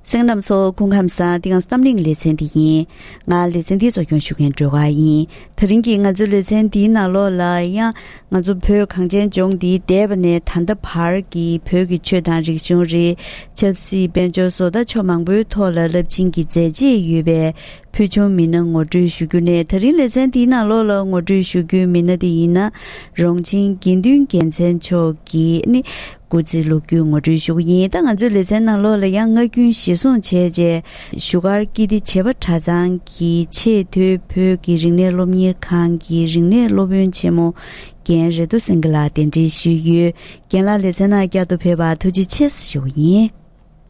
སེང་རྣམས་ཚོ་སྐུ་ཁམས་བཟང་དེ་ཡང་བསམ་གླིང་ལེ་ཚན་འདི་ཡིན། ང་ལེ་ཚན་འདི་གཙོ་སྐྱོང་ཞུ་མཁན་སྒྲོལ་དཀར་ཡིན། ད་རིང་གི་ང་ཚོའི་ལེ་ཚན་འདིའི་ནང་ལོགས་ལ་ཡང། ང་ཚོ་བོད་གངས་ཅན་ལྗོངས་འདི་འདས་པ་ནས་ད་ལྟ་བར་གྱི་བོད་ཀྱི་ཆོས་དང་རིག་གཞུང། རིགས། ཆབ་སྲིད་དཔལ་འབྱོར་བཟོ་ལྟ་ཕྱོགས་མང་པོའི་ཐོག་ལ་རླབས་ཆེན་གྱི་མཛད་རྗེས་ཡོད་པའི་ཕུལ་བྱུང་མི་སྣ་ངོ་སྤྲོད་ཞུ་རྒྱུ་ནས་ད་རིང་ལེ་ཚན་འདིའི་ནང་ལོགས་ལ་ངོ་སྤྲོད་ཞུ་རྒྱུའི་མི་སྣ་དེ་ཡིན་ན། རོང་ཆེན་དགེ་འདུན་རྒྱལ་མཚན་མཆོག་གིས་ནི་སྐུ་ཚེ་ལོ་རྒྱུས་ངོ་སྤྲོད་ཞུ་གི་ཡིན་ད་ང་ཚོའི་ལེ་ཚན་ནང་ལོགས་ལ་ཡང་ངག་རྒྱུན་བཞེས་བཟུང་བྱས་རྗེས་བཞུགས་སྒར་ཀིར་ཏི་བྱེས་པ་གྲྭ་ཚང་གི་ཆེས་མཐོའི་བོད་ཀྱི་རིག་གནས་སློབ་གཉེར་ཁང་གི་རིག་གནས་སློབ་དཔོན་ཆེན་མོ་རྒན་རེ་རྡོ་སེང་གེ་ལགས་གདན་འདྲེན་ཞུས་ཡོད་རྒན་ལགས་ལེ་ཚན་ནང་བསྐྱར་དུ་ཕེབས་པར་ཐུགས་རྗེ་ཆེ་ཞུ་གི་ཡིན།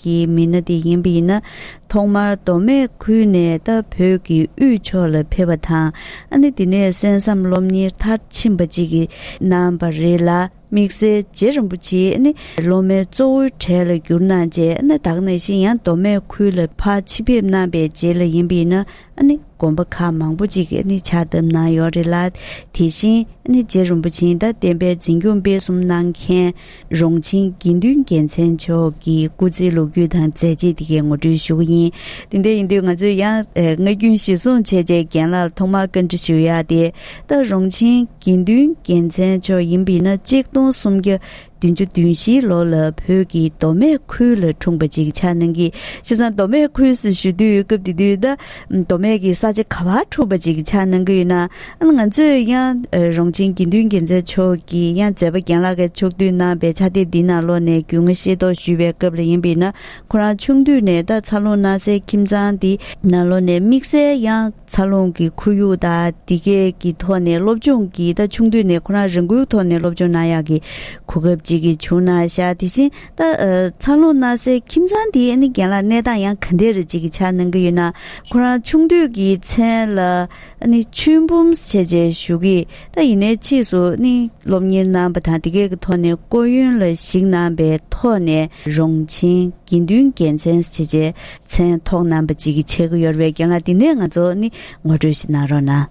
ཀྱི་མི་སྣ་དེ་ཡིན་པ་ཡིན་ན་ཐོག་མར་མདོ་སྨད་ཁུལ་ནས་ད་བོད་ཀྱི་དབུས་ཕྱོགས་ལ་ཕེབས་པ་དང་ཨ་ནེ་དེ་ནས་གསན་བསམ་སློབ་གཉེར་མཐར་ཕྱིན་པ་ཅིག་གནང་བ་རེད་ལ་དམིགས་བསལ་རྗེ་རིན་པོ་ཆེའི་ཨ་ནེ་སློབ་མའི་གཙོ་བོའི་གྲས་ལ་གྱུར་གནང་རྗེས་ཨ་ནེ་དག་ནས་ཤིན་ཡང་མདོ་སྨད་ཁུལ་ལ་ཕ་ཕྱི་ཕེབས་གནང་པའི་རྗེས་ལ་ཡིན་པ་ཡིན་ན་ཨ་ནེ་དགོན་པ་ཁག་མང་པོ་ཅིག་ཕྱག་བཏབ་གནང་ཡོད་རེད་ལ་དེ་བཞིན་ཨ་ནེ་རྗེ་རིན་པོ་ཆེའི་ཟླ་བསྟན་པའི་འཛིན་སྐྱོང་སྤེལ་གསུམ་གནང་མཁན་རོང་ཆེན་དགེ་འདུན་རྒྱལ་མཚན་མཆོག་གི་སྐུ་ཚེའི་ལོ་རྒྱུས་དང་མཛད་རྗེས་འདི་གའི་ངོ་སྤྲོད་ཞུ་གི་ཡིན། དེ་འདྲ་ཡིན་དུས་ང་ཚོས་ཡང་སྔ་རྒྱུན་གཞིར་བཟུང་བྱས་རྗེས་རྒན་ལགས་ལ་ཐོག་མར་བཀའ་འདྲི་ཞུ་ཡག་དེ་ལྟ་རོང་ཆེན་དགེ་འདུན་རྒྱལ་མཚན་མཆོག་ཡིན་པས་ན་གཅིག་སྟོང་སུམ་བརྒྱ་བདུན་ཅུ་བདུན་བཞིའི་ལོ་ལ་བོད་ཀྱི་མདོ་སྨད་ཁུལ་ལ་འཁྲུངས་པ་ཅིག་ཆགས་གནང་གིས་ཤི་སང་མདོ་སྨད་ཁུལ་སུ་བཞུགས་དུས་སྐབས་དེ་དུས་ད་མདོ་སྨད་ཀྱི་ས་ཆ་ག་བར་འཁྲུག་པ་ཅིག་ཆགས་གནང་གི་ཡོད་ན་ང་ཚོས་ཡང་རོང་ཆེན་དགེ་འདུན་རྒྱལ་མཚན་མཆོག་གི་ཡང་མཛད་པ་རྒན་ལགས་ཀྱི་ཕྱོགས་བསྡུས་གནང་པའི་ཕྱག་དེབ་འདི་ནང་ལོགས་ནས་རྒྱུས་མངའ་ཤེས་རྟོགས་ཞུས་པའི་སྐབས་ལ་ཡིན་པས་ན་ཁོ་རང་ཆུང་དུས་ནས་ད་ཚ་རླུང་སྣ་སའི་ཁྱིམ་ཚང་འདི་ནང་ལོགས་ནས་དམིགས་བསལ་ཡང་ཚ་རླུང་གི་ཁོར་ཡུག་དང་འདི་སྐད་ཀྱི་ཐོག་ནས་སློབ་སྦྱོང་གིས་ད་ཆུང་དུས་ནས་ཁོ་རང་རང་འགུལ་ཐོག་ནས་སློབ་སྦྱོང་གནང་ཡག་གི་གོ་སྐབས་ཅིག་བྱུང་གནང་ཤག་དེ་བཞིན་ད་ཚ་ལོ་ན་སའི་ཁྱིམ་ཚང་དེའི་ཨ་ནེ་རྒན་ལགས་གནས་སྟངས་ཡང་ག་འདྲས་རེད་ཅིག་གི་ཆ་ནང་གི་ཡོད་ན་ཁོ་རང་ཆུང་དུས་ཀྱི་མཚན་ལ་ཨ་ནེ་ཆོས་འབུམ་བྱས་རྗེས་ཞུ་གི་ད་ཡིན་ནའི་ཕྱིས་སུ་ཨ་ནེ་སློབ་གཉེར་གནང་བ་དང་དེ་སྐད་ཀྱི་ཐོག་ནས་སྐོར་ཡོན་ལ་གཞིགས་གནང་བའི་ཐོག་ནས་རོང་ཆེན་དགེ་འདུན་རྒྱལ་མཚན་བྱས་རྗེས་མཚན་ཐོག་གནང་བ་ཅིག་གི་ཆེད་གཡོར་བའི་རྒན་ལགས་འདི་ནས་ང་ཚོ་ཨ་ནེ་ངོ་སྤྲོད་ཞིག་གནང་རོགས་གནང།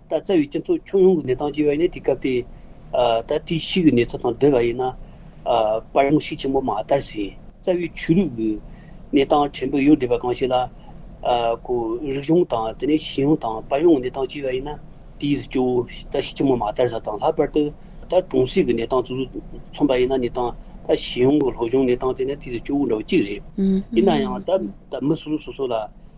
ད་རྩ་བའི་སྤྱི་ཚོགས་ཁྱོན་ཡོངས་ཀྱི་གནས་སྟངས་ཅི་ཡོད་ནི་དེ་སྐབས་དེའི་ད་ལྟའི་ཕྱིའི་གནས་ཚུལ་དང་བསྡུར་བ་ཡིན་ན། པར་ངོ་ཤེས་ཆེན་པོ་མ་དར་ཟིན་རྩ་བའི་ཆོས་ལུགས་ཀྱི་གནས་སྟངས་ཕྲན་བུ་ཡོད་འདུག་པ་གང་ཞིག་ལ། རིག་གཞུང་དང་དེ་ནས་གཞིས་ཡོངས་དང་པར་ཡོངས་ཀྱི་གནས་སྟངས་ཅི་ཡོད་ཡིན་ན་དེའི་གཟི་བཅོལ་བོ་ད་ཤེས་ཆེན་པོ་མ་དར་ས་དང་ལྷག་པར་དུ་ད་གྲོང་གསེབ་ཀྱི་གནས་སྟངས་ཙུ་ཙུ་མཚོན་པ་ཡིན་ན་ནི་དང་ད་གཞིས་ཡོངས་ཀྱི་ལྷོ་གཞུང་གནས་སྟངས་དེ་ནི་དེའི་གཟི་བཅོལ་བོ་འདྲ་བོ་གཅིག་རེད། ཡིན་ན་ཡང་ད་མི་སོ་སོ་སོ་སོ་ལ་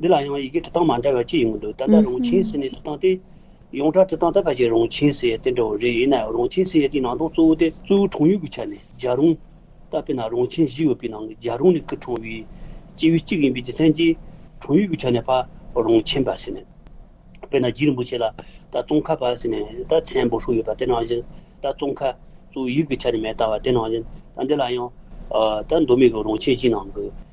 འདི་ལ་ཡང་ཡི་གེ་འབྲི་སྟངས་མ་འདྲ་བ་གཅིག་ཡོང་གི་འདུག་ད་ལྟ་རང་ཆེན་སི་ནས་འབྲི་སྟངས་དེ། ཡོངས་གྲགས་འབྲི་སྟངས་ད་བར་གྱི་རང་ཆེན་སི་ཡའི་དེ་འདྲ་བོ་རེད་ཡིན་ནའི་རང་ཆེན་སི་ཡའི་དེའི་ནང་དོན་གཙོ་བོ་དེ་གཙོ་བོའི་གྲངས་ཡུལ་གྱི་ཆ་ནས་རྒྱ་རུང། ལྟ་བས་ན་རང་ཆེན་བཞི་ཡོད་པའི་ནང་གི་རྒྱ་རུང་ནི་སྐུ་གྲངས་ཡུལ། སྤྱི་ཡུལ་གཅིག་ཡིན་པའི་རྒྱུ་མཚན་གྱིས། གྲངས་ཡུལ་གྱི་ཆ་ནས་ཕ། རང་ཆེན་པ་སི་ནས། དཔེར་ན་རྗེ་རིན་པོ་ཆེ་ལ། ད་ཙོང་ཁ་པ་སི་ནས་ད་མཚན་འབོད་ཧྲུག་ཡོད་པ་དེ་ནང་བཞིན། ད་ཙོང་ཁ། གཙོ་བོའི་ཡུལ་གྱི་ཆ་ནས་མེ་ལྟ་བ་དེ་ནང་བཞིན། ད་འདི་ལ་ཡང། ད་མདོ་སྨད་ཀྱི་རང་ཆེན་བཞི་ནང་གི།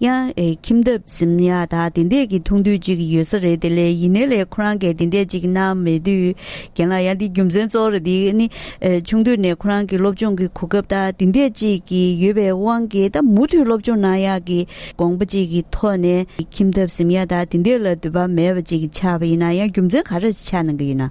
ཡང་ཨེ་ཁྱིམ་བདག་སེམས་ཡ་དག་དེ་འད་ཀྱི་ཐུགས་འདུད་ཅིག་ཡོད་ས་རེད་དེ་ལས་ཡིན་ནའི་ལས་ཁོ་རང་གས་དེ་འད་ཅིག་གནང་མེད་དུས་རྒན་ལགས་ཡང་འདི་རྒྱུ་མཚན་གཙོ་བོ་རེད་དེ་ནི་ཆུང་དུས་ནས་ཁོ་རང་གི་སློབ་སྦྱོང་གི་གོ་སྐབས་དག་དེ་འད་ཅིག་གི་ཡོད་པའི་དབང་གིས་ད་མུ་མཐུད་སློབ་སྦྱོང་གནང་ཡག་གི་དགོངས་པ་ཅིག་གི་ཐོག་ནས་ཨེ་ཁྱིམ་བདག་སེམས་ཡ་དག་དེ་འད་ལ་འདུད་པ་མེད་པ་ཅིག་ཆགས་པ་ཡིན་ན་ཡང་རྒྱུ་མཚན་ག་རེ་ཆགས་གནང་གི་ཡོད་ན།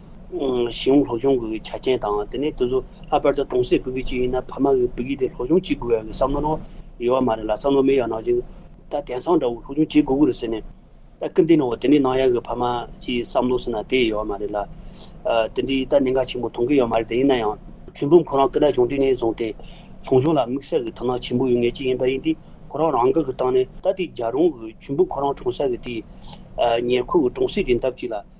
ཞིང་ལྷོ་གཞུང་གི་ཆ་རྐྱེན་དང་དེ་ནས་དེ་ཚོ་ལྷག་པར་དུ་གྲོང་གསེབ་བོད་ཁུལ་གཅིག་ཡིན་ན་ཕ་མ་གི་བུ་རྒྱུད་དེ་ལྷོ་གཞུང་གཅིག་དགོས་ཡག་གི་བསམ་བློ་ནོར་ཡོད་བ་མ་རེད་ལ་བསམ་བློ་མེད་ཡག་ནང་བཞིན་ད་དེང་སང་འདྲ་བོ་ལྷོ་གཞུང་གཅིག་དགོས་གི་རེད་ཟེར་ནས་ད་སྐུལ་འདེད་གནང་བ་དེ་ནི་གནང་ཡག་གི་ཕ་མ་གཅིག་བསམ་བློ་ཟེར་ན་དེ་ཡོད་བ་མ་རེད་ལ། དེ་འདྲའི་ད་གནད་འགག་ཆེན་པོ་མཐོང་གི་ཡོད་མ་རེད་དེ་ཡིན་ན་ཡང། ཚུལ་འབུམ་ཁོ་རང་སྐུ་ན་བྱུང་དུས་ནས་བཟུང་སྟེ་ལྷོ་གཞུང་ལ་དམིགས་བསལ་གི་དོ་སྣང་ཆེན་པོ་ཡོད་ངེས་ཅིག་ཡིན་ད་ཡིན་དུས་ཁོ་རང་རང་འགུལ་གི་སྟངས་ནས་ད་དེ་རྒྱ་རོང་གི་ཚུལ་འབུམ་ཁོ་རང་གྲོང་གསེབ་གི་དེ་ཉེར་མཁོ་གི་གྲོང་གསེབ་ཀྱི་འདབས་གཅིག་ལ།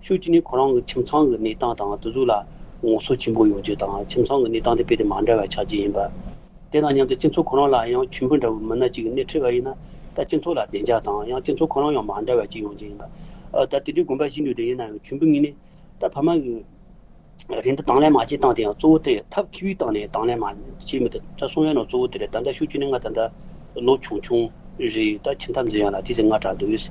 ཕྱོགས་གཅིག་ནས་ཁོ་རང་གི་ཁྱིམ་ཚང་གི་གནས་སྟངས་དང་བསྡུར་གཟུགས་ལ་ངོ་སོ་ཆེན་པོ་ཡོང་རྒྱུ་དང་ཁྱིམ་ཚང་གི་གནས་སྟངས་དེ་རྦད་དེ་མ་འདྲ་བ་ཆགས་རྒྱུ་ཡིན་པ། དེ་དང་མཉམ་དུ་སྤྱི་ཚོགས་ཁོ་རང་ལ་ཡང་ཁྱིམ་བུ་འདྲ་བོའི་མི་སྣ་གཅིག་གི་སྣེ་ཁྲིད་པ་ཡིན་ན་ད་སྤྱི་ཚོགས་ལ་བདེ་འཇགས་དང་ཡང་སྤྱི་ཚོགས་ཁོ་རང་ཡང་མ་འདྲ་བ་གཅིག་ཡོང་རྒྱུ་ཡིན་པ། ད་དེ་འདྲའི་དགོན་པ་བཞི་འདུས་འདྲ་ཡིན་ན་ཡང་ཁྱིམ་བུ་གཉིས་ནས་ད་ཕ་མ་གི་རེ་འདུན་དང་ལེན་མ་བྱས་སྟངས་དེ་ཡང་གཙོ་བོ་དེ་ཐབས་ཁི་བའི་སྟངས་ནས་དང་ལེན་མ་བྱས་མི་ཐུབ་ད་གསུང་ཡ་ནོ་གཙོ་བོ་དེ་རེད་ད་ལྟ་ཕྱོགས་གཅིག་ནས་ང་ད་ལྟ་ལོ་ཆུང་ཆུང་རེད་ད་ཁྱིམ་ཐབས་འཛིན་ཡ་ལ་དེ་ཚེ་ང་གྲ་འདུས།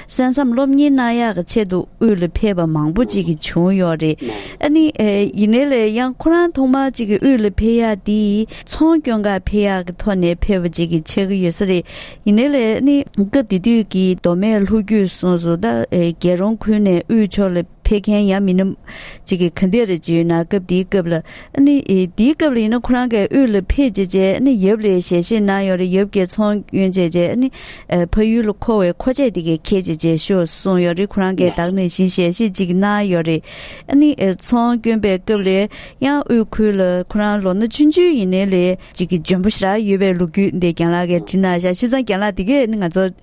གསན་བསམ་སློབ་གཉེར་གནང་ཡག་གི་ཆེད་དུ་དབུས་ལ་ཕེབས་པ་མང་པོ་ཅིག་གི་བྱུང་ཡོག་རེད་ཨ་ནི། ཡིན་ནའི་ལེ་ཡང་ཁོ་རང་ཐོག་མར་ཅིག་གི་དབུས་ལ་ཕེབས་ཡག་འདི་ཚོང་སྐྱོན་ག་ཕེབས་ཡག་གི་ཐོག་ནས་ཕེབས་པ་ཅིག་གི་ཆགས་གི་ཡོད་ས་རེད་ཡིན་ནའི་ལེ་ཨ་ནི། སྐབས་དེ་དུས་ཀྱི་མདོ་སྨད་ལྷོ་རྒྱུད་སོགས་སུ་ད་རྒྱལ་རོང་ཁུལ་ནས་དབུས་ཕྱོགས་ལ། ཕེབས་མཁན་ཡང་མིན་ནམ། ཅིག་གིས་ག་འདི་རེད་ཅེས་ཡོད་ན་སྐབས་དེའི་སྐབས་ལ། ནི། དེའི་སྐབས་ལ་ཡིན་ན་ཁོ་རང་གས་དབུས་ལ་ཕེབས་བྱས་རྗེས་ནི་ཡབ་ལས་ཞལ་བཞེས་གནང་ཡོད་རེད་ཡབ་ཀྱིས་ཚོང་གཡོན་བྱས་རྗེས་ནི། ཕ་ཡུལ་ལ་འཁོར་བའི་མཁོ་ཆས་དེ་གས་ཁྱེར་བྱས་རྗེས་ཤོག་གསུངས་ཡོད་རེད་ཁོ་རང་གས་བདག་ནི་བཞིན་ཞལ་བཞེས་ཅིག་གནང་ཡོད་རེད། ནི། ཚོང་གཡོན་པའི་སྐབས་ལས་ཡང་དབུས་ཁུལ་ལ་ཁོ་རང་ལོ་ན་བཅུ་བཅུ་ཡིན་ནའི་ལས། ཅིག་གིས་འཇོན་པོ་ཞིག་ལ་ཡོད་པའི་ལུགས་རྒྱུད་འདི་རྒྱང་ལགས་ཀྱིས་བྲིས་ན་བཞག་ཤུལ་ཙང་རྒྱང་ལགས་དེ་གས་ནི་ང་ཚོ།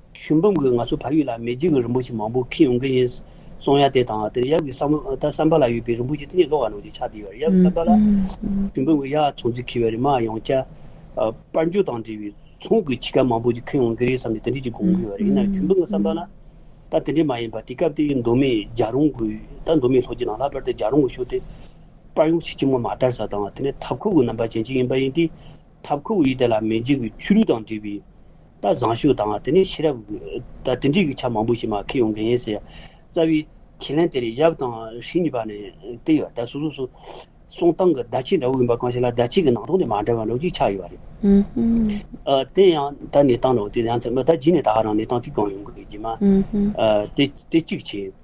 ཞུ་འབུམ་གྱིས་ང་ཚོའི་བར་ཡུལ་ལ་མེས་རྒྱལ་གྱི་རིན་པོ་ཆེ་མང་པོ་ཁེངས་ཡོང་གི་ཡིན། སོང་ཡ་དེ་དང་དེར་ཡབ་ཀྱི་བསམ་བསམ་པ་ལ་ཡོད་པའི་རིན་པོ་ཆེ་དེ་ནས་ལོག་བར་ནོར་གྱི་ཆགས་བསྡད་ཡོད་རེད་ཡབ་བསམ་པ་ལ། ཞུ་འབུམ་གྱི་གཡག་ཚོང་རྫིས་ཁེལ་བའི་རིན་མ་ཡང་བསྐྱལ། དཔལ་འབྱོར་དང་འབྲེལ་བའི་ཚོང་གི་ཆི་ཁ་མང་པོ་ཅིག་ཁེངས་ཡོང་གི་རེད་བསམ་ནས་དེ་འདྲས་ཅིག་དགོངས་ཀྱི་ཡོད་རེད་ཡིན་ནའང་ཞུ་འབུམ་གྱི་བསམ་པ་ལ། ད་དེ་འདྲས་མ་ཡིན་པར་དེ་སྐབས་དེའི་མདོ་མེད་རྒྱ་རོང་གི་ད་མདོ་མེད་ལྷོ་རྒྱུད་ནང་ལྷག་པར་དུ་རྒྱ་རོང་གི་ཕྱོགས་དེ། དཔལ་ཡོངས་ཕྱི་ཁྱིམ་ངོ་མ་དར་ས་དང་དེ་ནས་མཐའ་འཁོར་གྱི་རྣམ་པ་ཅན་ཅིག་ཡིན་པ་ཡིན་ཏེ། ཐབ་ཁུག་ཡིག་དེ་ལ་མི་འཇིགས་པའི་ཆུ་རུལ་དང་འདྲིས་པའི་རྟ་བཟང་ཤུག་དང་དེ་ནས་ཕྱི་རབས་རྟ་དེ་འདྲིས་ཀྱི་ཆ་མང་པོ་ཞིག་མ་ཁེལ་ཡོང་གི་ཡིན་ཟེར། རྩ་བའི་ཁས་ལེན་དེར་ཡབ་དང་ཧྲིལ་གཉིས་པ་ནས་བལྟས་ཡོད་རྟ་སོ་སོ་སོ་སོང་སྟངས་ཀྱི་བརྡ་ཆད་འདྲ་བོ་ཡིན་པ་གང་ཞིག་ལ་བརྡ་ཆད་ཀྱི་ནང་དོན་དེ་མ་འདྲ་བ་འགྲོ་གཅིག་ཆགས་ཡོད་རེད། དེ་ཡང་ད་ནས་སྟངས་ནོར་དེ་ཡང་ཚད་མ་ད་བགྱིས་ནས་ད་ཧ་རང་ནས་སྟངས་ཐིག་གང་ཡོང་གི་ཡོད་ཀྱི་མ་རེད་དེ་གཅིག་བྱས།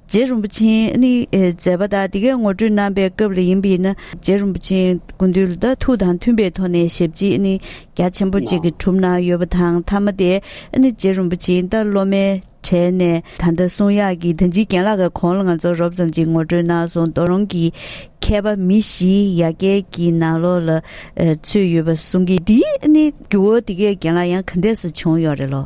རྗེ་རིན་པོ་ཆེས་ནི་མཛད་པ་དག་འདི་གའི་ངོ་སྤྲོད་གནང་པའི་སྐབས་ལ་ཡིན་པས་ན་རྗེ་རིན་པོ་ཆེའི་དགོངས་འདུས་ལ་དག་ཐུགས་དང་མཐུན་པའི་ཐོག་ནས་ཞབས་རྗེས་ནི་རྒྱ་ཆེན་པོ་གཅིག་གིས་གྲུབ་གནང་ཡོད་པ་དང་མཐའ་མ་དེ་ནི་རྗེ་རིན་པོ་ཆེའི་ཟླ་སློབ་མའི་གྲས་ནས་ད་ལྟ་གསུང་ཡག་གི་དོན་སྤྱི་རྒན་ལགས་ཀྱི་གོང་ལ་ང་ཚོར་རོབ་ཙམ་གྱིས་ངོ་སྤྲོད་གནང་སོང་རྡོ་རོང་གི་མཁས་པ་མི་བཞི་ཡ་གྱལ་གྱི་ནང་ལོགས་ལ་ཚུད་ཡོད་པ་གསུང་གིས་འདིའི་ནི་རྒྱུ་བོ་འདི་གའི་རྒན་ལགས་ཡང་ག་འདས་སུ་བྱུང་ཡོད་རེད་ལོ།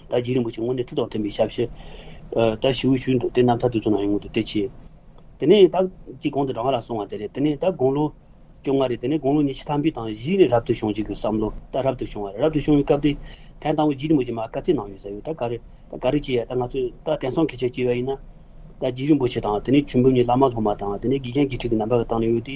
ད་རྗེ་རིན་པོ་ཆེ་སྔོན་ནས་ཐུགས་དང་མཐུན་པའི་ཞབས་ཕྱི། ད་ཞི་བའི་ཤུལ་འདུག་དེ་རྣམ་ཐར་དུས་གཙོ་ན་ཡོང་ངོ་འདུག་དེ་ཕྱི། དེ་ནས་ད་ཀྱི་གོང་དུ་དྲང་ང་ལ་སོང་བ་དེ་རེད་དེ་ནས་ད་དགུང་ལོ་བཅོ་ལྔ་རེད་དེ་ནས་དགུང་ལོ་ཉི་ཤུ་ཐམ་པའི་དང་བཞི་ནས་རབ་ཏུ་བྱུང་ཅིག་གི་བསམ་བློ་ད་རབ་ཏུ་བྱུང་བ་རེད་རབ་ཏུ་བྱུང་བའི་སྐབས་དེ་ཐན་དང་བོ་རྗེ་རིན་པོ་ཆེ་མ་བཀའ་སྩལ་གནང་ཡོད་ཟེར་ཡོད་ད་ག་རེད་ད་ག་རེ་བྱས་ཡ་ད་ང་ཚོས་ད་དེང་སང་གི་ཆ་སྐྱེལ་བ་ཡིན་ན། ད་རྗེ་རིན་པོ་ཆེ་དང་དེ་ནས་ཆོས་འབུམ་གཉིས་བླ་མ་སློབ་མ་དང་དེ་ནས་དགེ་རྒན་དགེ་ཕྲུག་གི་རྣམ་པ་ག་དང་ནས་ཡོད་དེ།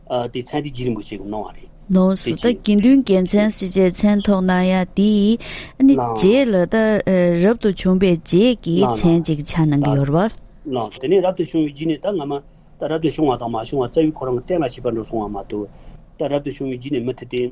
དེ་ཚན་རིག་བརྗིད་རིན་པོ་ཆེ་གིས་གནང་བ་རེད། ནོངས་སུ་ད་དགེ་འདུན་རྒྱལ་མཚན་སྲིད་རྗེའི་མཚན་ཐོགས་གནང་ཡ་འདི་ནི་རྗེ་ལ་ད་རབ་ཏུ་བྱུང་པའི་རྗེས་ཀྱི་མཚན་ཅིག་ཆ་གནང་གི་ཡོར་བ། དེ་ནས་རབ་ཏུ་བྱུང་བའི་རྗེས་ནས་ད་སྔ་མ་ད་རབ་ཏུ་བྱུང་བ་དང་མ་བྱུང་བ་རྩ་བའི་ཁོ་རང་གི་བསྟན་ལ་བྱིས་པ་འགྲོ་སོང་བ་མ་གཏོགས་ད་རབ་ཏུ་བྱུང་བའི་རྗེས་ནས་མི་ཐུབ་སྟེ།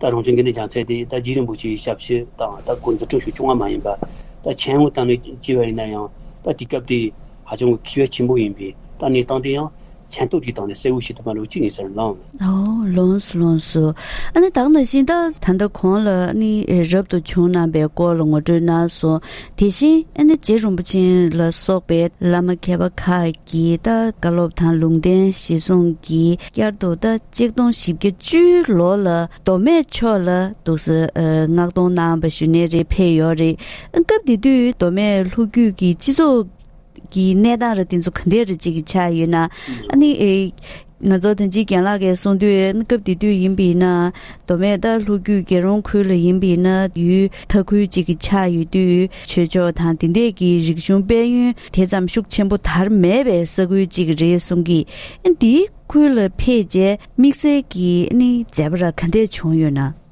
ད་རང་བྱུང་གི་གནས་ཀྱང་ཚད་དེ་ད་རྒྱུད་རིང་པོ་ཞིག་ཞབས་ཕྱི་དང་ད་གོ་འཛུགས་ཁྲོད་ཤུགས་ཆུང་བ་མ་ཡིན་པ་ད་ཆེན་ངོ་ད་ནི་ལྕི་བ་ཡིན་ན་ཡང་ད་དུས་སྐབས་དེ་ཧ་ཅང་གི་ཁེ་བས་ཆེན་པོ་ཡིན་པས་ད་གནས་སྟངས་དེ་ཡང་མཚན་རྟོག་གི་སྟངས་ནས་གསལ་བོ་ཞིག་ཏུ་མ་ལོ་གཅིག་གཉིས་སར་ལངས། ཨོའོ་ལོངས་སུ་ལོངས་སུ་ཨ་ནི་དག་ན་བཞིན་ད། ད་ལྟ་གོང་ལ་ཨ་ནི་རབ་ཏུ་བྱུང་རྣམས་པའི་སྐོར་ལ་ངོ་སྤྲོད་གནང་སོང་དེ་བཞིན་ཨ་ནི་རྗེ་རིན་པོ་ཆེན་ལ་སོགས་པའི་བླ་མ་མཁས་པ་ཁག་གྱི་རྟ་བཀའ་སློབ་དང་ལུང་བསྟན་བཞེད་གསུང་གིས་བསྐྱར་དུ་ཟླ་གཅིག་སྟོང་བཞི་བརྒྱ་བཅུའི་ལོ་ལ་མདོ་སྨད་ཕྱོགས་ལ་འདུག་ས་མངགས་གཏོང་གནང་བ་ཞུ་ནས་རེ་ཕེ་ཡོད་རེད། སྐབས་དེ་དུས་མདོ་སྨད་ལྷོ་རྒྱུད་ཀྱི་སྤྱི་ཚོགས་ཀྱི་གནས་སྟངས་ར་དེ་ཚོ་ག་འདྲ་རེ་བྱེད་ཀྱི་ཆགས་ཡོད་ན་ནི། ང་ཚོ་དོན་གཅིག་གྱེན་ལག་གིས་སོང་དུས་སྐབས་དེ་དུས་ཡིན་པས་ན་མདོ་སྨད་རྟ་ལྷོ་རྒྱུད་རྒྱལ་རོང་ཁུལ་ལ་ཡིན་པས་ན་ཡུལ་མཐའ་ཁུལ་གཅིག་གི་ཆགས་ཡོད་དུས་ཆོས་ཕྱོགས་དང་དེ་འདས་ཀྱི་རིག་གཞུང་དཔལ་ཡོན་དེ་ཙམ་ཤུགས་ཆེན་པོ་དར་མེད་པའི་ས་ཁུལ་གཅིག་རེད་གསུང་གི་འདི་ཁུལ་ལ་ཕེབས་རྗེས་དམིགས་བསལ་གྱི་མཛད་པ་ར་ག་འདས་བྱུང་ཡོད་ན།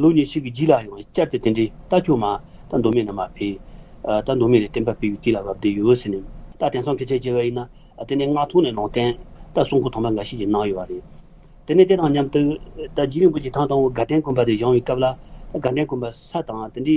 ལུགས་ནི་ཞིག་གི་རྗེས་ལ་ཡང་བསྐྱར་དེ་དེ་འདྲའི་རྟ་ཁྱུང་མ། རྟ་མདོ་མེད་ན་མ་འཕེལ། རྟ་མདོ་མེད་ནས་བསྟན་པ་སྤེལ་བའི་དུས་ལ་བབ་སྟེ་ཡོད་ཟེར་ནས། རྟ་དེང་སང་གི་ཚད་བརྗེ་བ་ཡིན་ན། དེ་ནི་མངགས་ཐོ་ནས་ནང་བསྟན། རྟ་སྲུང་ཁུལ་དང་པ་འགའ་ཞིག་གི་ནང་ཡོད་པ་རེད། དེ་ནས་དེ་དང་མཉམ་དུ། རྟ་རྗེ་རིན་པོ་ཆེ་ཐང་དང་བོ་དགའ་ལྡན་དགོན་པ་དེ་བཞེངས་བའི་སྐབས་ལ། དགའ་ལྡན་དགོན་པ་ས་དང་དེ་འདྲའི།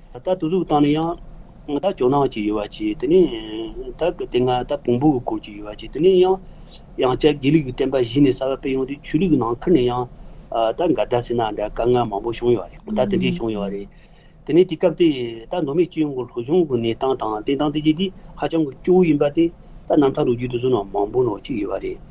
ད་ལྟ་དུ་གཟུགས་བཏང་ནས་ཡང། ད་ལྕོག་སྣང་ཅིག་ཡོད་པར་བྱས། དེ་ནས་ད་དེ་སྔ་ད་བོང་བུ་གི་སྐོར་ཅིག་ཡོད་པར་བྱས། དེ་ནས་ཡང། ཡང་བསྐྱར་དགེ་ལུགས་ཀྱི་བསྟན་པ་གཞི་ནས་གསར་བ་སྤེལ་ཡོང་དུས་ཆོས་ལུགས་ཀྱི་ནང་ཁུལ་ནས་ཡང། ད་འགའ་ཟླ་ཟེར་ན་འདྲ་དཀའ་ངལ་མང་པོ་བྱུང་ཡོད་རེད། ད་དེ་འདྲས་བྱུང་ཡོད་རེད། དེ་ནས་དེ་སྐབས་དེ་ད་མདོ་སྨད་སྤྱི་ཡོངས་ཀྱི་ལྷོ་གཞུང་གི་གནས་སྟངས་དང་བསྟན་སྟངས་བལྟས་རྗེས་དེ་ཧ་ཅང་གི་སྐྱོ་བོ་ཡིན་པ་དེ་ད་རྣམ་ཐར་ལོ་རྒྱུས་དུ་བཟོས་ན་མང་པོ་ནོར་གཅིག་ཡོད་པ་རེད།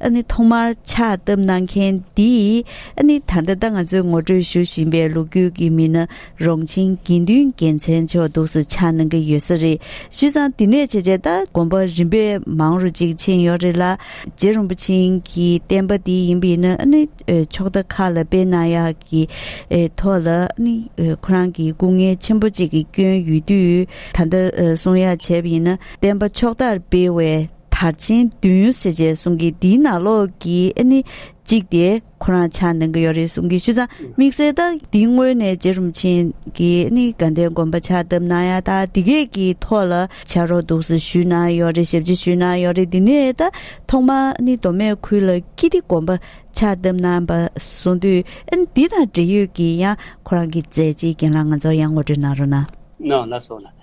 ཨ་ནི་ཐོག་མར་ཕྱག་བཏབ་གནང་མཁན་འདིས་ཨ་ནི་ད་ལྟ་ང་ཚོས་ངོ་སྤྲོད་ཞུ་བཞིན་པའི་ལོ་རྒྱུས་ཀྱི་མི་སྣ་རོང་ཆེན་དགེ་འདུན་རྒྱལ་མཚན་མཆོག་འདུག་ཟེར་ཆགས་གནང་གི་ཡོད་ས་རེད་ཞུས་ཙང་འདི་ནས་བྱས་བྱས་ད་དགོན་པ་རིམ་པས་མང་རུ་ཅིག་ཕྱིན་ཡོད་རེད་ལ་རྗེ་རིན་པོ་ཆེན་གྱི་བསྟན་པ་འདི་ཡིན་པས་ན་ཨ་ནི་ཕྱོགས་མཐའ་ཁག་ལ་སྤེལ་གནང་ཡག་གི་ཐོག་ལ་ཨ་ནི་ཁོ་རང་གི་སྐུ་ངལ་ཆེན་པོ་ཅིག་གི་སྐྱོན་ཡོད་དུས་ད་ལྟ་གསུང་ཡག་བྱས་པ་ཡིན་ན་བསྟན་པ་ཕྱོགས་མཐར་སྤེལ་བའི་དར་ཆེན་བདུན་ཡོད་ཟེར་བྱས་གསུང་གི་འདིའི་ནང་ལོགས་ཀྱི་ཨེ་ནི་གཅིག་དེ་ཁོ་རང་ཕྱག་ནང་གི་ཡོད་རེད་གསུང་གི་ཆུ་ཚང་དམིགས་བསལ་དག་འདི་དངོས་ནས་རྗེ་རུམ་ཆེན་གྱི་ཨེ་ནི་དགའ་ལྡན་དགོན་པ་ཕྱག་བཏབ་ན་ཡག་ད་འདི་གས་ཀྱི་ཐོག་ལ་བྱ་རོག་འདུག་ཟེར་ཞུས་ན་ཡོད་རེད་ཞབས་ཕྱི་ཞུས་ན་ཡོད་རེད་འདི་ནས་ད་ཐོག་མ་ཨེ་ནི་མདོ་སྨད་ཁུལ་ལ་ཀི་ཏི་དགོན་པ་ཕྱག་བཏབ་ན་བ་གསུང་དུས་ཨེ་ནི་འདི་དང་འབྲེལ་ཡོད་ཀྱི་ཡང་ཁོ་རང་གི་མཛད་རྗེས་རྒན་ལགས་ང་ཚོ་ཡང་ངོ་སྤྲོད་གནང་རོགས་གནང། ནང་ལ་སོགས་ལ་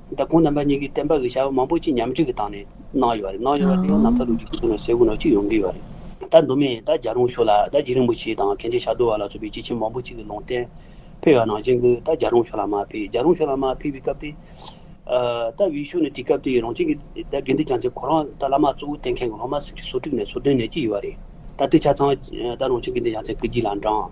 ད་ཁོང་རྣམ་པ་གཉིས་ཀྱིས་བསྟན་པ་གྱི་བྱ་བ་མང་པོ་ཅི་ཉམས་ཅིག་གི་སྟངས་ནས་གནང་ཡོད་པ་རེད་གནང་ཡོད་པ་དེ་ཡང་ནམ་མཁའ་རུ་རྒྱུག་ཁུལ་ནང་ཟས་གོས་ནང་ཅི་ཡོང་གི་ཡོད་རེད་ད་མདོ་སྨད་ད་རྒྱ་རོང་ཕྱོགས་ལ་ད་རྗེ་རིན་པོ་ཆེ་དང་གན་རྗེ་ཞྭ་རྡོ་བ་ལ་སོགས་པའི་སྐྱེས་ཆེན་མང་པོ་ཅིག་གི་ལུང་བསྟན་ཕེབས་ཡོད་ནང་ཅན་གྱིས་ད་རྒྱ་རོང་ཕྱོགས་ལ་མ་ཕེབས་རྒྱ་རོང་ཕྱོགས་ལ་མ་ཕེབས་པའི་སྐབས་དེ་ད་དབུས་ཕྱོགས་ནས་དེ་སྐབས་དེ་རང་བྱུང་གི་ད་དགེ་འདུན་བྱང་ཆེན་གོ་རང་ད་བླ་མ་གཙོ་བོ་བསྟེན་མཁན་གྱི་སློབ་མ་སེམས་ཀྱི་སོ་དྲུག་ནས་སོ་བདུན་ནས་ཅི་ཡོད་རེད་ད་དེ་ཆ་ཚང་ད་རང་བྱུང་གི་འདུན་བྱང་ཚན་བསྐོས་རྒྱུ་ལ་འབྲངས།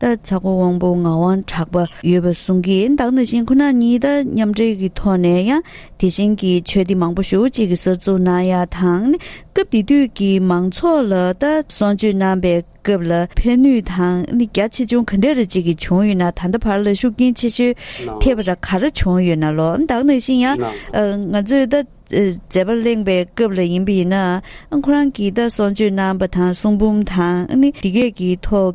ལྟར་ཚ་ཁོ་དབང་པོ་ངག་དབང་གྲགས་པ་ཡོད་པར་གསུངས་ཀྱི་བདག་ན་གཞན་ཁོ་ན་ཉིད་དང་མཉམ་འབྲེལ་གྱི་ཐོག་ནས་ཡང་དེ་བཞིན་གྱི་ཆོས་སྡེ་མང་པོ་ཞུགས་གཅིག་གི་སར་གཙུག་ན་ཡ་དང་ནི་སྐབས་དེ་དུས་ཀྱི་མང་ཚོགས་ལ་ལྟ་སྲུང་བྱོས་གནང་པའི་སྐབས་ལ་ཕན་ནུས་དང་ནི་རྒྱ་ཆེ་ཆུང་ག་འདྲ་རེ་གཅིག་གིས་བྱུང་ཡོད་ན་ད་ལྟ་བར་ལ་ཤུགས་རྐྱེན་ཆེ་ཤོས་ཐེབས་པ་ར་ག་ར་བྱུང་ཡོད་ན་ལོ་བདག་ན་བཞིན་ཡང་ང་ཚོས་ལྟ་མཛད་པ་གླེང་པའི་སྐབས་ལ་ཡིན་པ་ཡིན་ན་ཁོ་རང་གིས་ལྟ་སྲུང་བྱོས་གནང་པ་དང་གསུང་འབུམ་དང་ནི་འདི་སྐད་ཀྱི་ཐོག་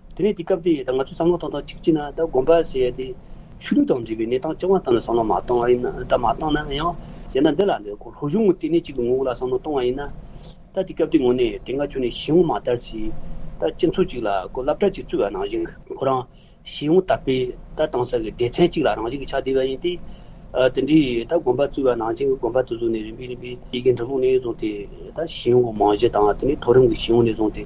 དེ་ནས་དེ་སྐབས་དེ་ད་ང་ཚོས་བསམ་བློ་ཐོག་ཐོག་ཅིག་བགྱིས་ན་ད་དགོན་པ་ཞེས་ཡ་དེ། ཆོས་ལུགས་དང་འབྲེལ་བའི་གནས་སྟངས་ཅི་དབང་ཐང་ལ་བསམ་བློ་མ་གཏོང་བ་ཡིན་ན་ད་མ་གཏོང་ན་ཡང། གཞན་ད་འདི་ལ་འདི་གོ་ལྷོ་གཞུང་ངོ་སྟེ་ནས་ཅིག་ཏུ་ངོ་བོ་ལ་བསམ་བློ་གཏོང་བ་ཡིན་ན། ད་དེ་སྐབས་དེ་ངོ་ནས་དེ་སྔ་ཆོས་ནས་ཞི་བོ་མ་དར་སྲིད། ད་སྤྱི་མཚུངས་ཅིག་ལ་གོ་བསླབ་གྲྭ་ཅིག་བཙུགས་ཡ་ནང་བཞིན། ཁོ་རང། ཞི་བོ་དར་པས་ད་གཏང་ས་གི་སྡེ་ཚན་ཅིག་ལ་རང་བཞིན་གྱི་ཆགས་བསྡད་པ་ཡིན་ཏེ། དེ་འདྲའི་ད་དགོན་པ་བཙུགས་ཡ་ནང་བཞིན་གྱི་དགོན་པ་དེ་ཚོ་ནས་རིམ་པས་རིམ་པས་ཡི་གེ་འབྲི་ལུགས་ནས་བཟུང་སྟེ། ད་ཞི་བོ་མང་བཞི་དང་དེ་ནས་མཐོ་རིམ་གྱི་ཞི་བོ་ནས་བཟུང་སྟེ།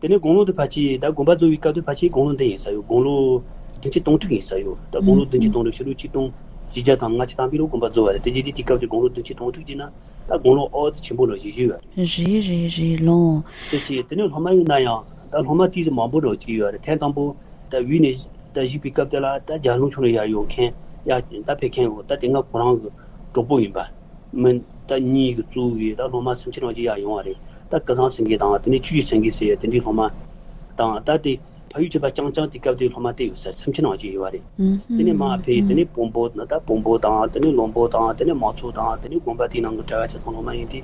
དེ་ནས་དགུང་ལོ་དུ་བ་ཆེའི་ཟླ་དགུ་པ་རྫོགས་པའི་སྐབས་དུ་བ་ཆེའི་དགུང་ལོ་འདི་ཡིན་ས་ཡོད་དགུང་ལོ། བདུན་ཅུ་སྟོང་ཕྲུག་ཡིན་ས་ཡོད་ད་དགུང་ལོ་བདུན་ཅུ་སྟོང་ཕྲུག་ཕྱི་ལོ་ཆིག་སྟོང། བཞི་བརྒྱ་དང་ང་གཅིག་དང་པི་ལོ་དགུ་པ་རྫོགས་བ་རེད་དེ་རྗེས་དེ་དུས་སྐབས་དུ་དགུང་ལོ་བདུན་ཅུ་སྟོང་ཕྲུག་ཅིག་ན་ད་དགུང་ལོ་ཨོ་རྩི་ཆེན་པོ་ལོ་བཞི་བཞུ་ཡོད། རེད་རེད་རེད་ལོངས། ཟེར་གྱི་དེ་ནས་ལྷོ་མ་ཡིན་ན་ཡང་ད་ལྷོ་མ་ཏི་ཟི་མང་པོ་རོ་གཅིག་ཡོད་རེད་ཐེངས་དང་པོ་ད་དབུས་ནས་ད་གཞིགས་པའི་སྐབས་དེ་ལ་ད་རྒྱ་ལུང་ཆུང་རུ་ཡར་ཡོང་མཁན་ཡང་ད་ཕེབས་མཁན་ཡོད་ད་དེ་སྔ་ཁོ་རང་གི་གྲོགས་པོ་ཡིན་པ་མིན་ད་གཉིས་ཀྱི་གཙོ་བོ་བས་ད་ལྷོ་མ་སུམ་ཆིག་རང་གཅིག་ཡར་ཡོང་བ་རེད་རྟ་སྐལ་བཟང་སེང་གེ་དང་དེ་ནས་ཆུ་བཞི་སེང་གེ་ཟེར་བའི་དེ་འདྲའི་སློབ་མ་དང་རྟ་དེ་ཕ་ཡུལ་གྱི་པ་ཅང་ཅང་དེའི་སྐབས་དེའི་སློབ་མ་བསྡད་ཡོད་ཟེར་སེམས་ཁྱེར་ནང་བཅུག་ཡོད་པ་རེད། དེ་ནས་མ་ཕེ་དེ་ནས་བོན་པོ་ད་ལྟ་བོན་པོ་དང་དེ་ནས་ལོང་པོ་དང་དེ་ནས་མང་ཚོགས་དང་དེ་ནས་དགོན་པ་དེའི་ནང་གི་གྲྭ་བ་ཆ་ཚང་སློབ་མ་ཡིན་ཏེ་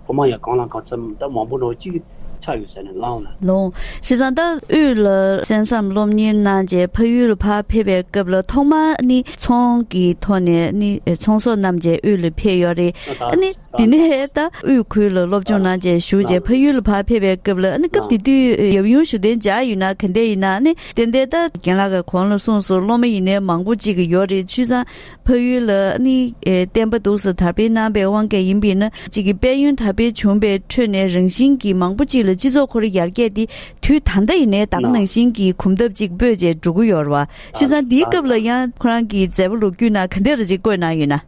སློབ་མ་ཡང་གང་ལ་གང་འཚམ་ད་མང་པོ་འགྲོ་གཅིག་ཆགས་ཡོད་ཟེར་ནས་ལངས་ལ། ལོང། བཞི་བཟང་རྟ་དབུས་ལ་གསན་བསམ་སློབ་གཉེར་གནང་རྗེས་ཕ་ཡུལ་བར་ཕེབས་པའི་སྐབས་ལ་ཐོག་མར་ནི་ཚོང་གི་ཐོག་ནས་ནི་ཚོང་ཟོག་རྣམས་རྗེས་དབུས་ལ་ཕེབས་ཡོད་རེད། འདི་ནི་ཧའེ་ཏཱ་དབུས་ཁུལ་ལ་སློབ་སྦྱོང་གནང་རྗེས་བཞུགས་རྗེས་ཕ་ཡུལ་ལ་བར་ཕེབས་པའི་སྐབས་ལ་སྐབས་དེ་དུས་ཡབ་ཡུམ་ཞུ་བདེ་འཇགས་ཡོད་ན་ག་འདྲ་ཡིན་ནའང་དེ་འདྲའི་ལྟ་གྱེན་ལ་གོང་ལ་སོང་སོང་སློབ་མ་ཡིན་ནའི་མང་པོ་ཅིག་ཡོད་རེད་ཆུ་བཟང་ཕ་ཡུལ་ལ་བསྟན་པ་འདུག་ས་དར་སྤེལ་གནང་པའི་དབང་གིས་ཡིན་པས་ན་ཅིག་དཔལ་ཡོན་དར་སྤེལ་བྱུང་པའི་ཁྲོད་ནས་རང་བཞིན་གྱིས་མང་པོ་ཅིག་ལ་སྤྱི་ཚོགས་ཁོར་ཡར་རྒྱས་ཏེ་དུས་ད་ལྟ་ཡིན་ནའི་དྭགས་ནང་བཞིན་གྱི་གོམ་སྟབས་ཅིག་སྤོས་རྗེས་འགྲོ་གི་ཡོད་རེད་བ་ཆུ་བཟང་འདིའི་སྐབས་ལ་ཡང་ཁོ་རང་གི་མཛད་པ་ལོ་རྒྱུས་ནང་ག་འདྲ་རེ་ཅིག་བཀོད་གནང་ཡོད་ན།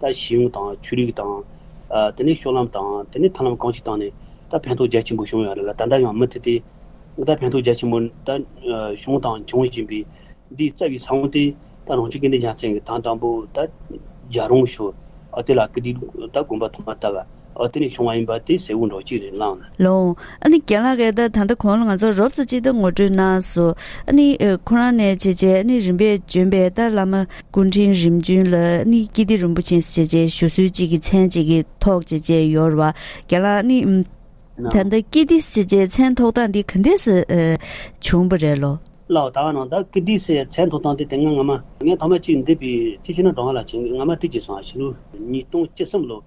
ད་གཞི་ཡུམ་དང་ཆོས་རིག་དང། དེ་ནས་ཤོག་ལམ་དང་དེ་ནས་ཐང་ལམ་གང་ཞིག་བཏང་ནས་ད་ཕན་ཐོག་རྒྱ་ཆེན་པོ་བྱུང་ཡང་རེད་ལ་ད་ལྟ་ཡང་མུ་མཐུད་དེ། ད་ཕན་ཐོག་རྒྱ་ཆེན་པོ་ད་བྱུང་དང་འབྱུང་བཞིན་པའི་འདིའི་རྩ་བའི་ས་བོན་དེ་ད་རང་ཆོས་སྐལ་ལྡན་རྒྱལ་མཚན་གྱི་ཐང་དང་པོ་ད་རྒྱ་རོང་ཞོལ་ཨ་དེ་ལ་སྐུ་དེའི་ད་དགོན་པ་ཐོག་མ་ད་བ། ཨོ་དེ་ནས་བྱུང་བ་ཡིན་པ་དེ་སེའུ་འབྲོག་གཅིག་རེད་ལངས། ལོང། ཨ་ནི་རྒན་ལགས་ཀས་ད་ད་ལྟ་གོང་ལ་ང་ཚོར་རོབ་ཙོ་གཅིག་ལྟ་ངོ་སྤྲོད་གནང་སོང། ཨ་ནི། ཁོ་རང་ནས་བྱས་རྗེས་ཨ་ནི་རིམ་པས་བྱོན་པའི་ལྟར་བླ་མ་སྐུ་ཕྲེང་རིམ་བྱོན་ལ་ཨ་ནི་ཀི་ཏི་རིན་པོ་ཆེ་བྱས་རྗེས་ཞུ་གསོལ་གཅིག་གི་མཚན་གཅིག་གི་ཐོག་བྱས་རྗེས་ཡོར་བ་རྒན་ལགས་ཨ་ནི། ད་ལྟ་ཀི་ཏི་བྱས་རྗེས་མཚན་ཐོག་སྟངས་འདི་ག་འདེས་བྱུང་བ་རེད་ལོ། ལགས། ད་ནང་ད་ཀི་ཏི་སའི་མཚན་ཐོག་སྟངས་དེ་དེ་སྔ་ང་མ། ངས་ཐོག་མ་གཅིག་འདི་པི་ཏི་ཆི་ན་འགྲོ་ང་ལ་བྱིན་གྱིས་ང་མ་ཏི་ཅི་སོང་ཨ་ཕྱི་ལོ། ཉིས་སྟོང་བཅུ་གསུམ་ལོ།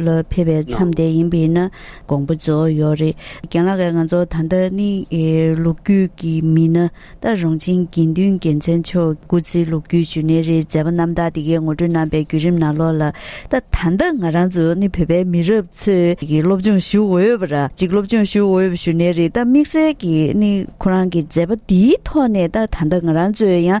ལ་ཕེབས་པའི་མཚམས་དེ་ཡིན་པས་ན་དགོངས་པ་རྫོགས་ཡོད་རེད། རྒན་ལགས་ང་ཚོ་ད་ལྟ་ནི་ལོ་རྒྱུས་ཀྱི་མི་སྣ་ད་རུང་ཆིང་དགེ་འདུན་རྒྱལ་མཚན་མཆོག་སྐུ་ཚེའི་ལོ་རྒྱུས་ཞུ་ནི་རེད་མཛད་པ་རྣམ་དག་དེ་གའི་ངོ་སྤྲོད་རྣམ་པའི་བརྒྱུད་རིམ་ནང་ལོགས་ལ་ད་ད་ལྟ་ང་རང་ཚོ་ནི་བོད་པའི་མི་རབས་ཚོས་ཀྱི་སློབ་སྦྱོང་ཞུ་འོས་པ་ར་གཅིག་སློབ་སྦྱོང་ཞུ་འོས་པ་ཞུ་ནི་རེད་ད་དམིགས་བསལ་གྱི་ནི་ཁོ་རང་གི་མཛད་པ་འདིའི་ཐོག་ནས་ད་ད་ལྟ་ང་རང་ཚོས་ཡང་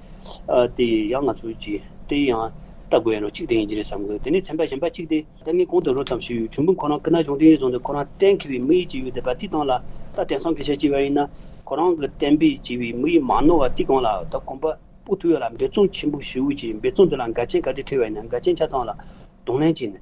དེ་ཡང་ང་ཚོས་ཀྱིས་དེ་ཡང་ལྟ་དགོས་ཡིན་རུང་གཅིག་དེ་ཡིན་གྱི་རེད་བསམ་དགོས་དེ་ནས་ཚན་པ་གཞན་པ་གཅིག་དེ། ད་ངས་གོང་དུ་རོ་ཙམ་ཞུས་ཡོད་གཞུང་དཔོན་ཁོ་རང་སྐུ་ན་གཞུང་དེའི་རྫོང་དུ་ཁོ་རང་གཏན་འཁེལ་བའི་མི་ཡིས་བྱས་ཡོད་དེ་བ་ཏི་ཏང་ལ་ད་དེང་སང་གི་ཤ་གཅིག་བ་ཡིན་ན་ཁོ་རང་གི་གཏན་འབེབས་བྱས་བའི་མི་ཡིས་མ་ནོར་བ་ཏི་གང་ལ་ད་གོམ་པ་སྤོ་ཐུབ་ཡོད་ལ་འབད་བརྩོན་ཆེན་པོ་ཞུ་ཀྱིས་འབད་བརྩོན་དེ་ལ་འགལ་རྐྱེན་ག་རེ་འཕྲད་བ་ཡིན་ན་འགལ་རྐྱེན་ཆ་ཚང་ལ་གདོང་ལེན་གྱིས་ནས།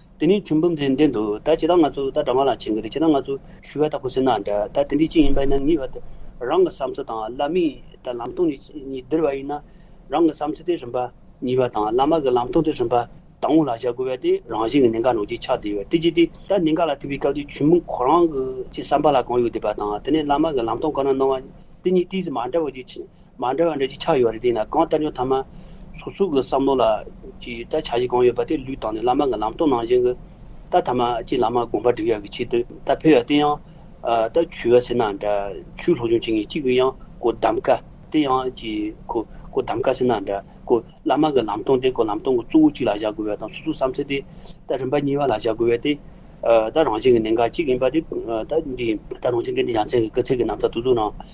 དེ་ནས་ཁྱུང་འབུམ་དེའི་མདུན་དུ་ད་ཇི་ལྟར་ང་ཚོ་ད་དྲ་ང་ལ་བྱེད་གི་རེད་ཇི་ལྟར་ང་ཚོ་ཞུ་བ་ལྟ་བུ་ཟེར་ན་འདྲ་ད་དེ་འདྲའི་ཅི་ཡིན་པ་ཡིན་ན་ངེས་པར་དུ་རང་གི་བསམ་ཚུལ་དང་བླ་མའི་ད་ལམ་སྟོང་གཉིས་གཉིས་བསྡུར་བ་ཡིན་ན་རང་གི་བསམ་ཚུལ་དེ་རིམ་པ་གཉིས་པ་དང་བླ་མ་གི་ལམ་སྟོང་དེ་རིམ་པ་དང་བོ་ལ་བཞག་དགོས་པ་དེ་རང་བཞིན་གྱི་ནི་འགའ་ནོར་གྱི་ཆགས་བསྡད་ཡོད་དེ་ཅི་སྟེ་ད་ནི་འགའ་ལ་ཐུག་པའི་སྐབས་དེ་ཁྱུང་འབུམ་ཁོ་རང་གི་ཅི་བསམ་པ་ལ་གང་ཡོད་བསྡད་པ་དང་དེ་ནས་བླ་མ་གི་ལམ་སྟོང་གང་ན་སྣང་བ་དེ་གཉིས་ཏིག་ཅིག་མ་འདྲ་བོ་ཞིག་མ་འདྲ་བ་འདྲ་གཅིག་ཆགས་ཡོད་རེད་དེས་ན་གང་ལྟར་ཉོ་ཐ་མ་སོ་སོ་གི་བསམ་བློ་ལ་གཅིག་ལྟ་བྱ་གཞི་གང་ཡོད་པ་དེ་ལུས་བཏང་ནས་བླ་མ་གི་ལམ་སྟོན་ནང་བཞིན་གྱི་ལྟ་ཐ་མ་གཅིག་བླ་མ་དགོངས་པ་འགྲིག་ཡག་གི་ཆེད་དུ་ལྟ་ཕོད་ཡག་དེ་ཡང་ལྟ་ཆུ་བ་ཟེར་ན་འདྲ་ཆུ་ལྷོག་ཆུང་བྱེད་ངེས་གཅིག་གི་ཡང་གོ་གདམ་ཀ་དེ་ཡང་གཅིག་གོ་གོ་གདམ་ཀ་ཟེར་ན་འདྲ་གོ་བླ་མ་གི་ལམ་སྟོན་དེ་གོ་ལམ་སྟོན་གྱི་གཙོ་བོ་གཅིག་ལ་བཞག་དགོས་པ་དང་སོ་སོའི་བསམ་ཚུལ་དེ་ལྟ་རིམ་པ་གཉིས་པ་ལ་བཞག་དགོས་པས་དེ་ལྟ་རང་བཞིན་གྱི་གནད་འགག་གཅིག་ཡིན་པ་དེ་ལྟ་འདི་ལྟ་རང་བཞིན་གྱི་འདི་ཡ་མཚན་གྱི་སྐུ་ཚེགས་ཀྱི་རྣམ་ཐར་དུ་གཟུགས་རང།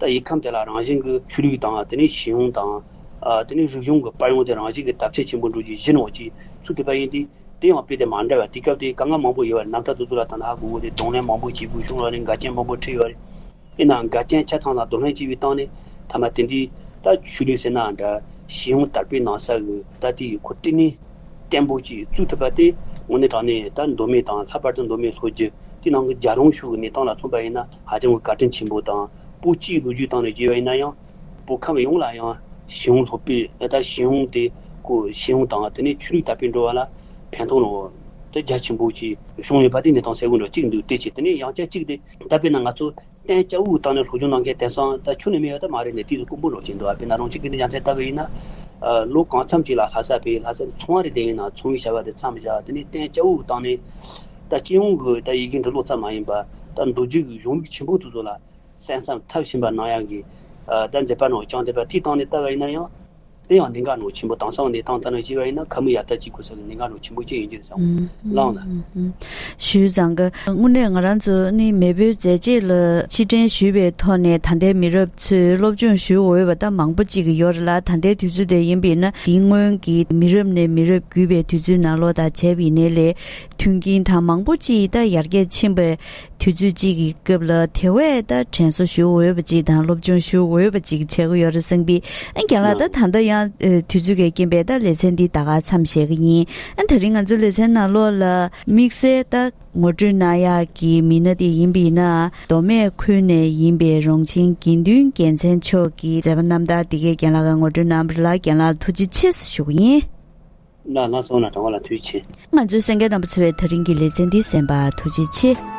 ད་ཡིག་ཁམས་དེ་ལ་རང་བཞིན་གྱི་ཆོས་ལུགས་དང་དེ་ནས་ཞིང་ཡོངས་དང། དེ་ནས་རིག་གཞུང་གི་པར་ཡོངས་དེ་རང་བཞིན་གྱི་དར་ཆས་ཆེན་པོ་འགྲོ་རྒྱུ་གཞི་ནོར་གྱི་ཚུལ་དུ་པ་ཡིན་ཏེ། དེ་ཡང་དཔེ་དེབ་མ་འདྲ་བ་དུས་སྐབས་དེའི་དཀའ་ངལ་མང་པོ་ཡོད་པ་རེད་ནམ་ད་དུ་དུ་ལ་ད་ནི་ཧ་གོ་གོ་དེ་གདོང་ལེན་མང་པོ་བྱེད་དགོས་བྱུང་ལ་ནི་འགལ་རྐྱེན་མང་པོ་འཕྲད་ཡོད་རེད། དབྱེ་ན་འགལ་རྐྱེན་ཆ་ཚང་ལ་གདོང་ལེན་བྱེད་པའི་སྟངས་ནི་ཐ་མ་དེ་འདི། ད་ཆོས་ལུགས་ཟེར་ནའང་འདྲ། ཞིང་ཡོངས་དར་སྤེལ་གནང་ས་གི་ད་དེ་ཡི་གོ་སྟེགས་ནི། བརྟན་པོ་གཅིག་བཙུགས་ཐུབ་པ་དེ། དངོས་གནས་དྲང་གནས་ད་མདོ་སྨད་དང་ལྷག་པར་དུ་མདོ་སྨད་ལྷོ་རྒྱུད་དེའི་ནང་གི་རྒྱ་རོང་ཤུགས་ཀྱི་གནས་སྟངས་ལ་མཚོན་པ་ཡིན་ན། ཧ་ཅང་གི་བཀའ་དྲིན་ཆེན་པོ་དང་པོ་གཅིག་ལོ་རྒྱུས་སྟེང་ནས་བརྗོད་པ་ཡིན་ན་ཡང། བོད་ཁམས་ཡོངས་ལ་ཡང་ཞི་བོང་ལྷོད་པོས་ད་ལྟ་ཞི་བོང་དེ་གོ་ཞི་བོང་དང་དེ་ནས་ཆོས་ལུགས་དར་སྤེལ་འགྲོ་བ་ལ་ཕན་ཐོགས་ནོ། དེ་རྒྱ་ཆེན་པོ་གཅིག་བྱུང་ཡོད་པ་དེ་ནས་དང་སེ་གོལ་འདྲ་གཅིག་འདུག་དེ་བྱས་དེ་ནས་ཡང་བསྐྱར་གཅིག་དེ་ད་དཔེར་ན་ང་ཚོ་བསྟན་སྐྱ་བོའི་སྟེང་ནས་སློབ་སྦྱོང་གནང་མཁན་དེང་སང་ད་ཆོས་ནས་མི་ཡོད་ད་མ་རེད་ནས་དུས་སུ་ཀུན་པོ་འགྲོ་བྱེད་འདུག་དཔེར་ན་རང་གཅིག་གི་ནས་ཡང་བསྐྱར་ལྟ་བས་ཡིན་ན། ལོ་གང་འཚམས་ཅིག་ལ་ལྷ་ས་བས་ལྷ་སའི་ཚོང་བ་རེ་བསྡད་ཡིན་ན་ཚོང་བའི་བྱ་བ་དེ་མཚམས་བཞག་དེ་ནས་བསྟན་སྐྱ་བོའི་སྟེང་ནས། ད་སྤྱི་ཡོངས་ཀྱི་ད་ཡི་གེ་འབྲི་ཀློག་ཙམ་མ་ཡིན་པར་ད་མདོ་རྒྱུད་ཀྱི་གཞུང་ལུགས་ཆེན་པོ་ཚོ་ཚོ་ལ་གསན་བསམ་མཐར་ཕྱིན་པར་སྣང་ཡང་གི། ད་མཛད་པ་ནང་བྱང་བདེན་པ་ཐིག་སྟངས་ནས་བལྟ་བ་ཡིན་ན་ཡང། དེ་ཡང་གནད་འགག་ནང་ཆེན་པོ་དྭངས་སང་གནས་སྟངས་ལྟར་ན་བཞེས་པ་ཡིན་ན་ཁ་མི་ཡ་ད་ཅིག་གོ་ས་ཀྱི་གནད་འགག་ནང་ཆེན་པོ་ཅི་ཡིན་རྒྱུད་བཟང་བོ་བླངས། ཞུས་བཟང་གི། དངོས་གནས་ང་རང་ཚོ་ནི་མེས་པོའི་མཛད་རྗེས་ལ་ཕྱིར་དྲན་ཞུས་པའི་ཐོག་ནས་ད་ལྟའི་མི་རབས་ཚོས་སློབ་སྦྱོང་ཞུ་འོས་པ་ད་མང་པོ་ཅིག་ཡོད་རེད་ལ་ད་ལྟའི་དུས་ཚོད་དེ་ཡིན་པས་ན་དེའི་སྔོན་གྱི་མི་རབས་ནས་མི་རབས་བརྒྱུད་པའི་དུས་ཚོད་ནང་ལོ་དང་བྱེ་བའི་གནས་ལས་དོན་རྐྱེན་དང་མང་པོ་ཅི་ཡིས་ད་ཡར་རྒྱས་ཕྱིན་པའི་དུས་ཚོད་ཅིག་གི་སྐབས་ལ་དེ་བས་ད་དྲན་གསོ་ཞུ་འོས་པ་ཅིག་དང་སློབ་སྦྱོང་ཞུ་འོས་པ་ཅིག་བྱེད་ཀྱི་ཡོད་རེད་བསམ་གི་ཨ་རྒྱ་ལགས་ད་ད་ལྟ་ཡང་དུས་ཚོད་འགའི་རྐྱེན་པས་ད་ལེ་ཚན་འདི་ད་ག་ཚམ་བཤད་གི་ཡིན་ཨ་ད་རིང་ང་ཚོ་ལེ་ཚན་ནང་ལོག་ལ་དམིགས་བསལ་ད་ངོ་སྤྲོད་གནང་ཡག་གི་མི་སྣ་དེ་ཡིན་པ་ཡིན་ན་མདོ་སྨད་ཁུལ་ནས་ཡིན་པའི་རོང་ཆེན་དགེ་འདུན་རྒྱལ་མཚན་མཆོག་གི་མཛད་པ་རྣམ་ཐར་འདི་གའི་རྒན་ལགས་ཀ་ངོ་སྤྲོད་གནང་བར་ལ་རྒན་ལགས་ལ་ཐུགས་རྗེ་ཆེ་ཞུ་གི་ཡིན། ལ་ལ་སོང་ན་གྲང་བ་ལ་ཐུགས་རྗེ་ཆེ། ང་ཚོའི་སེང་གེ་རྣམ་པ་འཚོལ་བའི་ད་རིང་གི་ལེ་ཚན་འདི་གསན་པ་ཐུགས་རྗེ་ཆེ།